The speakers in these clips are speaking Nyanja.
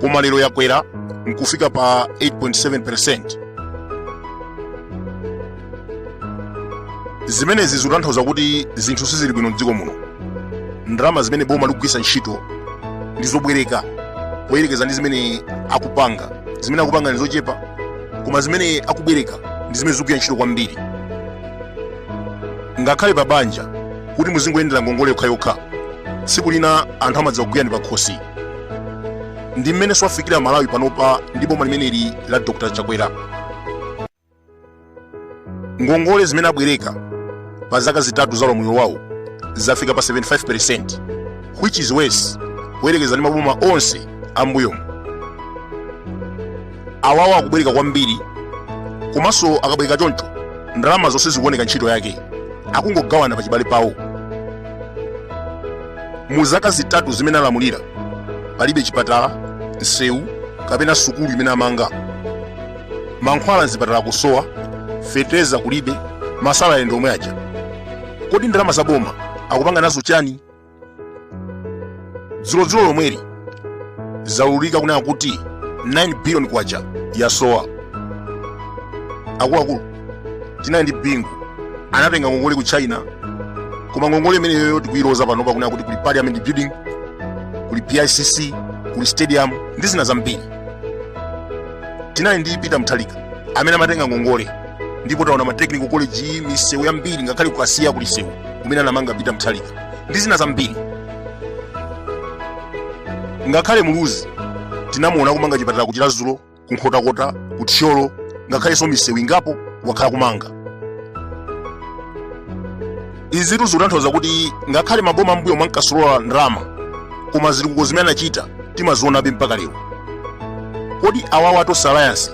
koma lero yakwera nkufika pa 8.7% zimenezi zikutanthauza kuti zinthu sizili bwino mdziko muno ndalama zimene boma likugwiritsa ntchito ndi zobwereka poyerekeza ndi zimene akupanga zimene akupanga ndi zochepa koma zimene akubwereka ndi zimene zikugwira ntchito kwambiri ngakhale pa banja kuti muzingoyendera ngongole yokhayokha tsiku lina anthu amadzakugwirani pakhosi ndi mmenenso wafikira malawi panopa ndi boma limeneli la dr chakwera ngongole zimene abwereka pa zaka zitatu za ulamuliro wawo zafika pa 75% which is worse kuyerekeza ndi maboma onse ambuyomu awawo akubwereka kwambiri komanso akabwereka choncho ndalamazo sizikuoneka ntchito yake akungogawana pachibale pawo mu zaka zitatu zimene alamulira palibe chipatala nsewu kapena sukulu imene amanga mankhwala mzipatala kusowa fetereza kulibe masalary ndi omwe aja kodi ndalama za boma akupanga nazo chani dzulodzulo lomweli zaululika kunena kuti 9 billion kwacha yasowa akuluakulu tinali ndi bingu anatenga ngongole ku china koma ngongole imeneyoyo tikuyiloza panopa kunena kuti kuli parliament building kuli bicc kuli stadium ndi zina zambiri tinali ndi peter mutharika amene amatenga ngongole ndipo taona ma technical college misewu yambiri ngakhale ku kasiya kuli nsewu kumene anamanga peter mutharika ndi zina zambiri ngakhale muluzi tinamuona kumanga chipatala ku chiradzulu ku nkhotakota ku thyolo ngakhalenso misewu ingapo wakhala akumanga izitu zikutanthauza kuti ngakhale maboma ambuyomu ankasolola ndalama koma zitukuko zimene anachita timazionabe mpaka lero kodi awawa a tonse alliance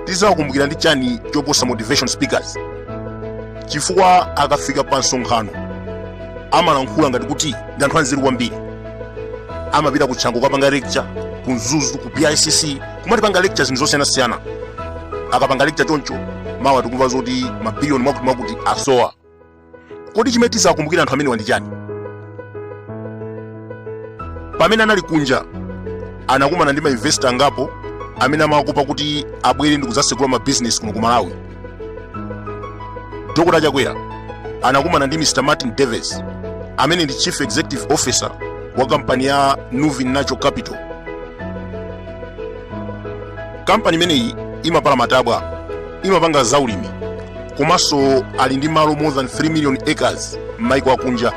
tizawakumbukira ndi chani choposa motivation speakers chifukwa akafika pa msonkhano amalankhula ngati kuti ndi anthu anzeru kwambiri amapita ku chanco kukapanga lecture ku mzuzu ku bicc kumatipanga lecture zinthu zosiyanasiyana akapanga lecture choncho mawa tikumva zoti mabiliyoni mwakuti mwakuti asowa kodi chimene tizakumbukira anthu amenewa ndi chani pamene anali kunja anakumana ndi mainvesta angapo amene amakopa kuti abwere ndi kudzasegula mabizinesi kuno ku malawi dr chakwera anakumana ndi mr martin davies amene ndi chief executive officer wa kampani ya nuveen natural capital kampani imeneyi imapala matabwa imapanga zaulimi komanso ali ndi malo more than 3 million acres m'maiko akunja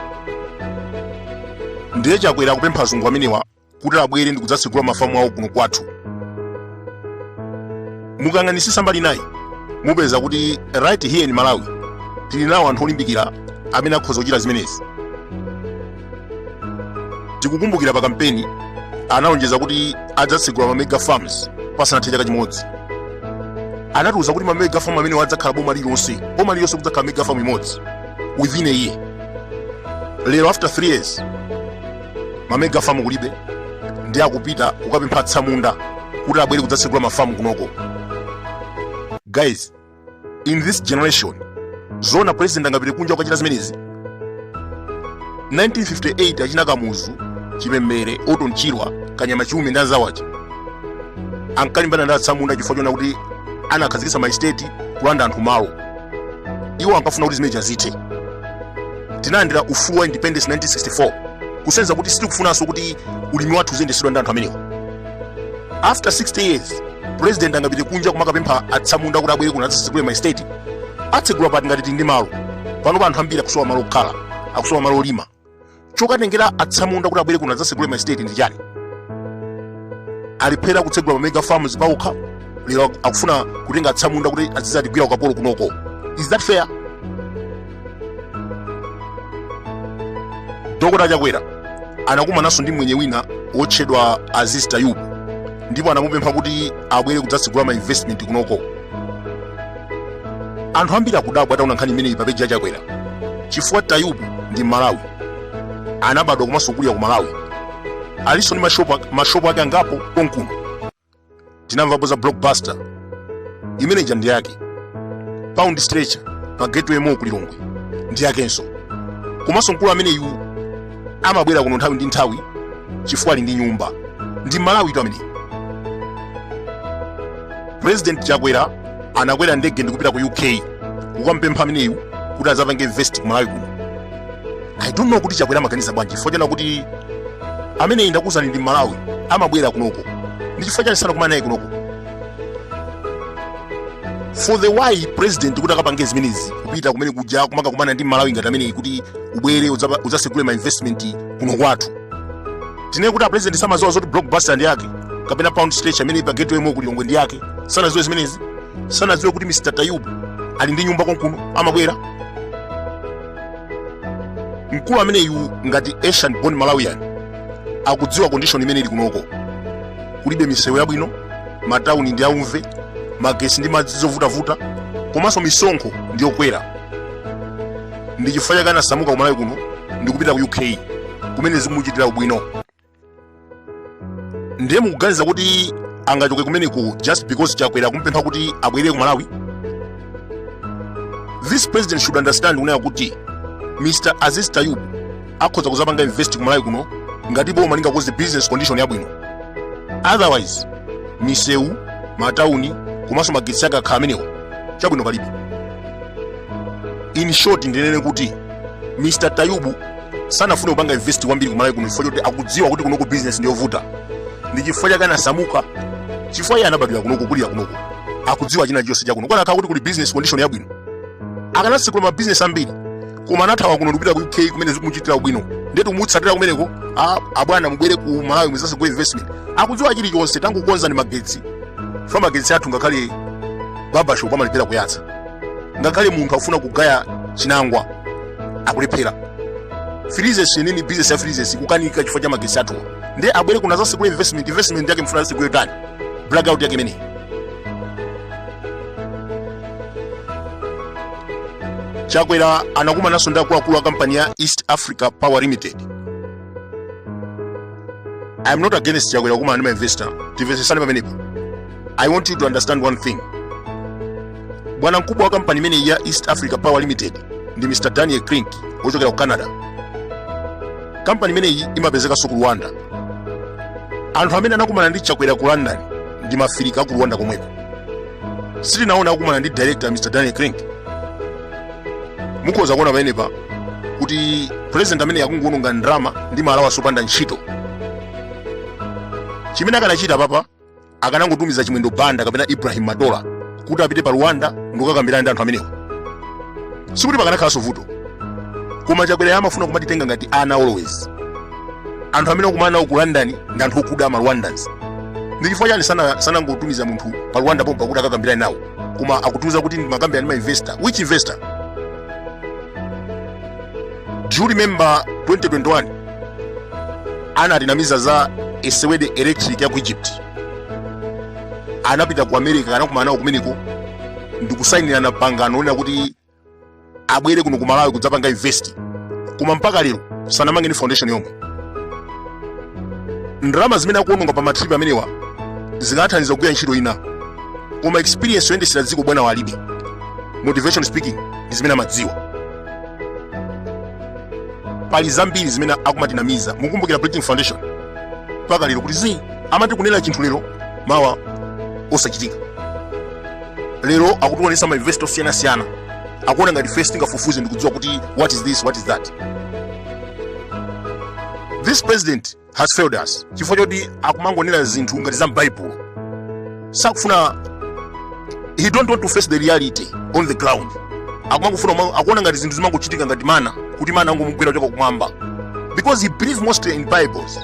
ndiye chakwera akupempha azungu amenewa kuti abwere ndi kudzatsegula mafamu awo kuno kwathu mukayang'anisisa mbali nayi mupeza kuti right here in malawi tili nawo anthu olimbikira amene akhoza kuchita zimenezi tikukumbukira pa kampeni analonjeza kuti adzatsegula ma mega farms pasanathe chaka chimodzi anatiuza kuti ma mega farm amenewo adzakhala boma lililonse boma lililonse kudzakhala mega farm imodzi within a year lero after 3 years mamega famu kulibe ndi akupita kukapempha atsamunda kuti abwere kudzatsegula mafamu kunoko guys in this generation zoona president angapite kunja kukachita zimenezi 1958 achina kamuzu chipembere oton chirwa kanyama chiume ndi anzawache ankalimbana ndi atsamunda chifukwa choona kuti anakhazikitsa maesiteti kulanda anthu malo iwo ankafuna kuti zimeneja zithe tinalandira ufulu wa independence 1964 kusonyeza kuti sitikufunanso kuti ulimi wathu uziyendetsedwa ndi anthu amenewo after 60 years president angapite kunja kumakapempha atsamunda kuti abwere kuno azatsegule ma estate atsegula pati ngati tili ndi malo panopa anthu ambiri akusowa malo okhala akusowa malo olima chokatengera atsamunda kuti abwere kuno adzasegule maesiteti ndi chani alephera kutsegula ma mega farms paokha lero ak- akufuna kutenga atsamunda kuti azizatigwira ukapolo kunoko is that fair dokota chakwera anakumananso ndi mwenye wina wotchedwa aziz tayub ndipo anamupempha kuti abwere kudzasegula ma investment kunoko anthu ambiri akudabwa ataona nkhani imeneyi pa peji ya chakwera chifukwa tayubu ndi mmalawi anabadwa komanso kukulira ku malawi alinso ndi mashopu ake angapo konkuno tinamvapo za blockbuster imeneija ndi yake pound stretcher pa gateway mall ku lilongwe ndi yakenso komanso mkulu ameneyu amabwera kuno nthawi ndi nthawi chifukwa ali ndi nyumba ndi mmalawitu ameneyi president chakwera anakwera ndege ndikupita ku uk kukampempha ameneyu kuti azapange invest ku malawi kuno i don't know kuti chakwera amaganiza bwanji chifukwa choona kuti ameneyi ndakuuzani ndi mmalawi amabwera kunoko ndi chifukwa chani sanakumana naye kunoko for the why president kuti akapange zimenezi kupita kumene kuja kumakakumana ndi mmalawi ngati ameneyi kuti ubwere udzaba- udzasegule ma investment kuno kwathu tinene kuti apresident samaziwa zoti blockbuster ndi yake kapena pound stretcher imeneyi pa gateway mall ku lilongwe ndi yake sanaziwe zimenezi sanaziwe kuti mr tayub ali ndi nyumba konkuno amabwera mkulu ameneyu ngati asian born malawian akudziwa condition imene ili kunoko kulibe misewu yabwino matauni ndi auve magesi ndi madzi zovutavuta komanso misonkho ndi yokwera ndi chifukwa chake anasamuka ku malawi kuno ndi kupita ku uk kumene zikumuchitira ubwino ndiye mukuganiza kuti angachoke kumeneko just because chakwera kumpempha kuti abwerere ku malawi this president should understand kunena kuti mr aziz tayub akhoza kuzapanga invest ku malawi kuno ngati boma lingakonze business condition yabwino otherwise misewu matauni komanso magetsi akakhala amenewo chabwino palibe in short ndinene kuti mr tayubu sanafune kupanga invest kwambiri kumalawi kuno chifukwa choti akudziwa kuti kunoko business ndiyovuta ndi chifukwa chake anasamuka chifukwa iye anabadwira kunoko kulira kunoko akudziwa china chonse chakuno kwanakhala kuti kuli business condition yabwino akanatsekula mabizinesi ambiri koma anathawa kuno ndikupita ku uk kumene zikumuchitira ubwino ndiye tikumutsatira kumeneko a- abwana mubwere ku malawi muzasegule investment akudziwa chilichonse tangokonzani magetsi fa magetsi athu ngakhale barbershop amalephera kuyatsa ngakhale munthu akufuna kugaya chinangwa akulephera freezers nini business ya freezers kukanika chifukwa cha magetsi athu ndiye abwere kuno azasegule investment investment yake mfuna azasegule tani blackout yake imeneyi chakwera anakumananso ndi akuluakulu a kampani ya east africa power limited i am not against chakwera kukumana ndi mainvestor timvetsesane pamenepo i want you to understand one thing bwana mkubwa wa kampani imeneyi ya east africa power limited ndi mr daniel crink wochokera ku canada kampani imeneyi imapezekanso ku rwanda anthu amene anakumana ndi chakwera ku london ndi mafirika aku rwanda komweko sitinaona akumana ndi director mr daniel crink mukhoza kuona pamenepa kuti president ameneyi akungoononga ndalama ndi maallowance opanda ntchito chimene akanachita apapa akanangotumiza chimwendo banda kapena ibrahim matola kuti apite pa rwanda ndikukakambirana ndi anthu amenewo sikuti pakanakhalanso vuto koma chakwera amafuna kumatitenga ngati ana always anthu amene akumana nawo ku london ndi anthu okuda ama rwandans ndi chifukwa chani sana- sanangotumiza munthu pa rwanda pompa kuti akakambirane nawo koma akutiuza kuti ndimakambirana ndi ma investor which investor do you remember 2021 anatinamiza za elsewedy electric ya ku egypt anapita ku america anakumana nawo kumeneko ndikusainirana pangano lonena kuti abwere kuno ku malawi kudzapanga invest koma mpaka lero sanamange ni foundation yomwe ndalama zimene akuononga pa matripi amenewa zikathandiza kugwira ntchito ina koma experience yoyendetsera dziko bwanawa alibe motivation speaking ndi zimene amadziwa pali zambiri zimene akumatinamiza mukukumbukira bridgin foundation mpaka lero kuli zii amati kunena chinthu lero mawa osachitika lero akutiwonesa ma investor osiyanasiyana akuona ngati ife sitingafufuze ndikudziwa kuti what is this what is that this president has failed us chifukwa choti akumangonena zinthu ngati za m'baibulo sakufuna he don't want to face the reality on the ground akumangofuna uma- akuona ngati zinthu zimangochitika ngati mana kuti mana angomugwera kuchoka kumwamba because he believe mostly in bibles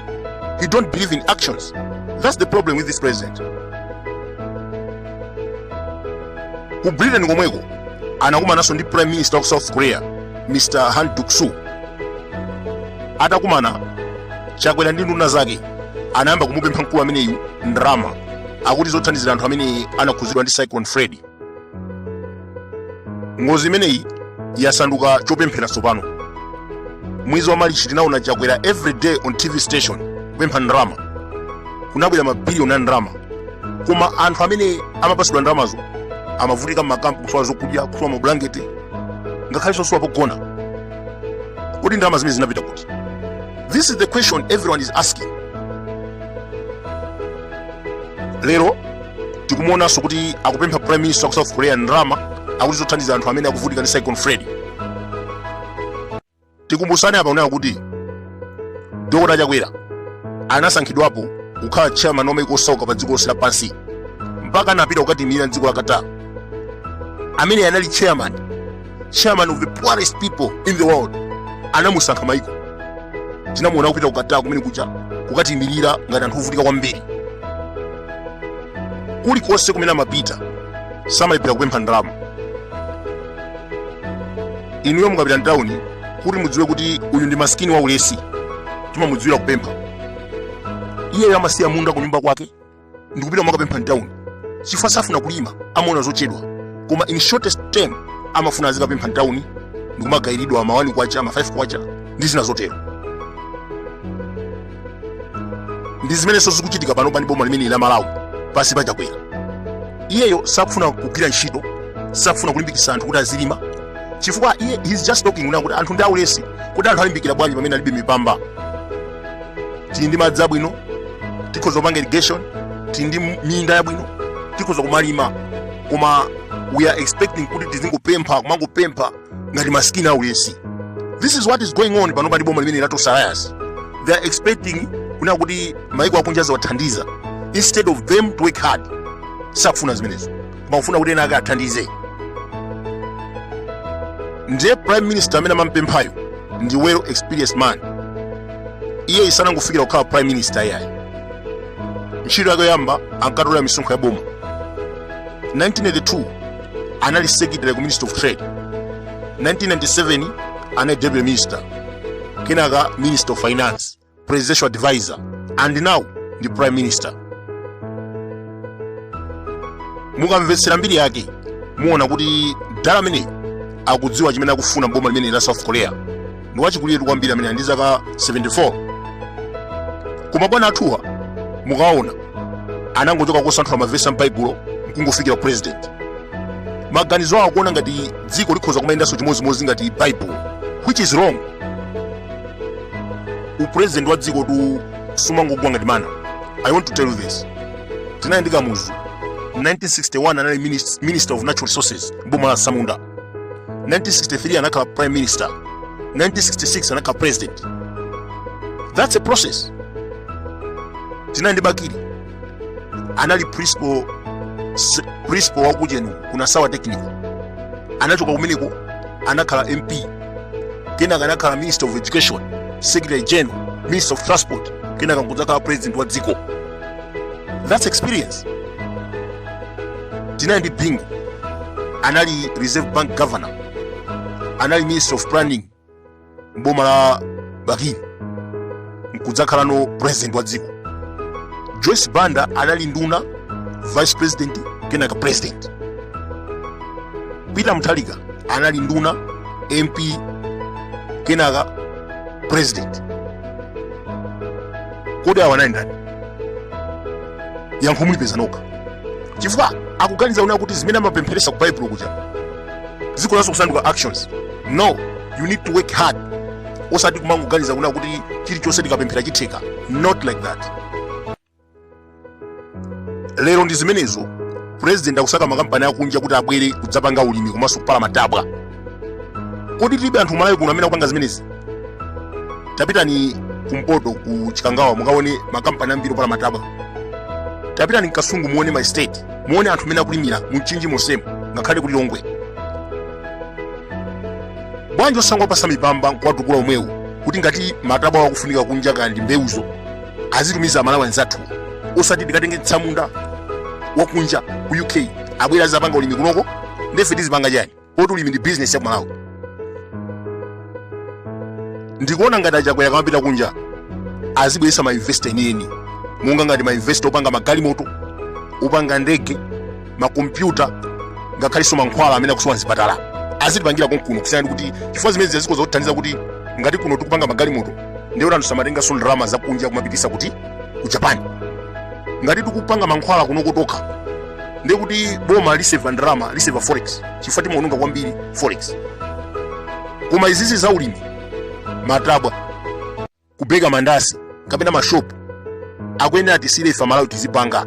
he don't believe in actions that's the problem with this president ku britain komweko anakumananso ndi prime minister wa ku south korea mr han duck-soo atakumana chakwera ndi nduna zake anayamba kumupempha mkulu ameneyu ndalama akuti zothandizira anthu amene anakhudzidwa ndi cyclone freddy ngozi imeneyi yasanduka chopemphera tsopano mwezi wa malichi tinaona chakwera everyday on tv station kupempha ndalama kunabwera mabiliyoni a ndalama koma anthu amene amapatsidwa ndalamazo amavutika m'makampu kusowa zokudya kusowa mabulangete ngakhalenso kusowa pogona kodi ndalama zimene zinapita kuti this is the question everyone is asking lero tikumuonanso kuti akupempha prime minister wa ku south korea ndalama akuti zothandiza anthu amene akuvutika ndi cyclone freddy tikumbusane apa kunena kuti dokota chakwera anasankhidwapo kukhala chairman wa maiko osauka pa dziko lonse lapansi mpaka anapita kukatiimirira mdziko la qatar amene anali chairman chairman of the poorest people in the world anamusankha maiko tinamuona kupita ku qatar kumene kuja kukatiimirira ngati anthu ovutika kwambiri kulikonse kumene amapita samalephera kupempha ndalama inuyo mukapita mtawuni kuti mudziwe kuti uyu ndi masikini wa ulesi timamudziwira kupempha iyeyo amasiya munda kunyumba kwake ndikupita mwakapempha mtown chifukwa safuna kulima amaona zochedwa koma in shortest term amafuna azikapempha mtown ndikumagayiridwa ma 1 kwacha ma 5 kwacha ndi zina zotero ndi zimenenso zikuchitika panopa ndi boma limeneli la malawi pansi pa chakwera iyeyo sakufuna kugwira ntchito sakufuna kulimbikitsa anthu kuti azilima chifukwa iye he's just talking kunena kuti anthu ndi aulesi kuti anthu alimbikira bwanji pamene alibe mipamba tili ndi madzi abwino tikhoza kupanga irrigation tili ndi m- minda yabwino tikhoza kumalima koma we are expecting kuti tizingopempha kumangopempha ngati masikini aulesi this is what is going on panopa ndi boma limene la tonse alliance they are expecting kuna kuti maiko akunja azawathandiza instead of them to work hard sakufuna zimenezo koma kufuna kuti ena ake athandize ndiye prime minister amene amampemphayo ndi well experienced man iye sanangofikira kukhala prime minister iyayi ntchito yake yoyamba ankatolera misonkho ya boma 1982 anali secretary ku ministry of trade 1997 anali deputy minister kenaka minister of finance presidential advisor and now ndi prime minister mukamvetsera mbiri yake muona kuti mdala ameneyi akudziwa chimene akufuna m'boma limene la south korea ndi wachikuliretu kwambiri amene ali ndi zaka 74 koma bwana athuwa mukaona anangochoka kosanthula mavesi a m'baibulo nkungofikira president maganizo awo akuona ngati dziko likhoza kumayendanso chimodzimodzi ngati baibulo which is wrong upresident wa dzikotu sumangogwa ngati mana i want to tell you this tinali ndi kamuzu 1961 anali minis- minister of natural resources m'boma la atsamunda 1963 anakhala prime minister 1966 anakhala president that's a process tinali ndi bakili anali principal s- principal wa ku ujeni ku nasawa technical anachoka kumeneko anakhala mp kenaka anakhala minister of education secretary general minister of transport kenaka nkudzakhala president wa dziko that's experience tinali ndi bingu anali reserve bank governor anali minister of planning m'boma la bakili nkudzakhalano president wa dziko joyce banda anali nduna vice president kenaka president peter mutharika anali nduna mp kenaka president kodi awa anali ndani yankho mulipeza nokha chifukwa akuganiza kuna kuti zimene amapempheresa ku baibulo kuja zikhozanso kusanduka actions no you need to work hard osati kumangoganiza kuna kuti chilichonse tikapemphera chitheka not like that lero ndi zimenezo president akusaka makampani akunja kuti abwere kudzapanga ulimi komanso kupala matabwa kodi tilibe anthu ku malawi kuno amene akupanga zimenezi tapitani kumpoto ku chikangawa mukaone makampani ambiri opala matabwa tapitani m'kasungu muone ma estate muone anthu amene akulimira mu mchinji monsemo ngakhale ku lilongwe bwanji osangowapasa mipamba nkuwatukula omwewu kuti ngati matabwa akufunika kunja kaya ndi mbewuzo azitumiza amalawi anzathu osati tikatenge tsamunda wakunja ku uk abwere azapange ulimi kunoko nde ife tizipanga chani poti ulimi ndi bizinesi ya amalawi ndikuona ngati achakwera akamapita kunja azibweretsa mainvesta enieni monga ngati mainvesta opanga magalimoto opanga ndege makompyuta ngakhalenso mankhwala amene akusowa mzipatala azitipangira konkuno kusiyana ndi kuti chifukwa zimene zizizikoza kutithandiza kuti ngati kuno tikupanga magalimoto ndiye anthu samatenganso ndalama zakunja kumapitisa kuti ku japan ngati tikupanga mankhwala kuno kotokha ndiye kuti boma liseva ndalama liseva forex chifukwa timaononga kwambiri forex koma izizi za ulimi matabwa kubeka mandasi kapena mashopu akuyenera atisiire ife amalawi tizipanga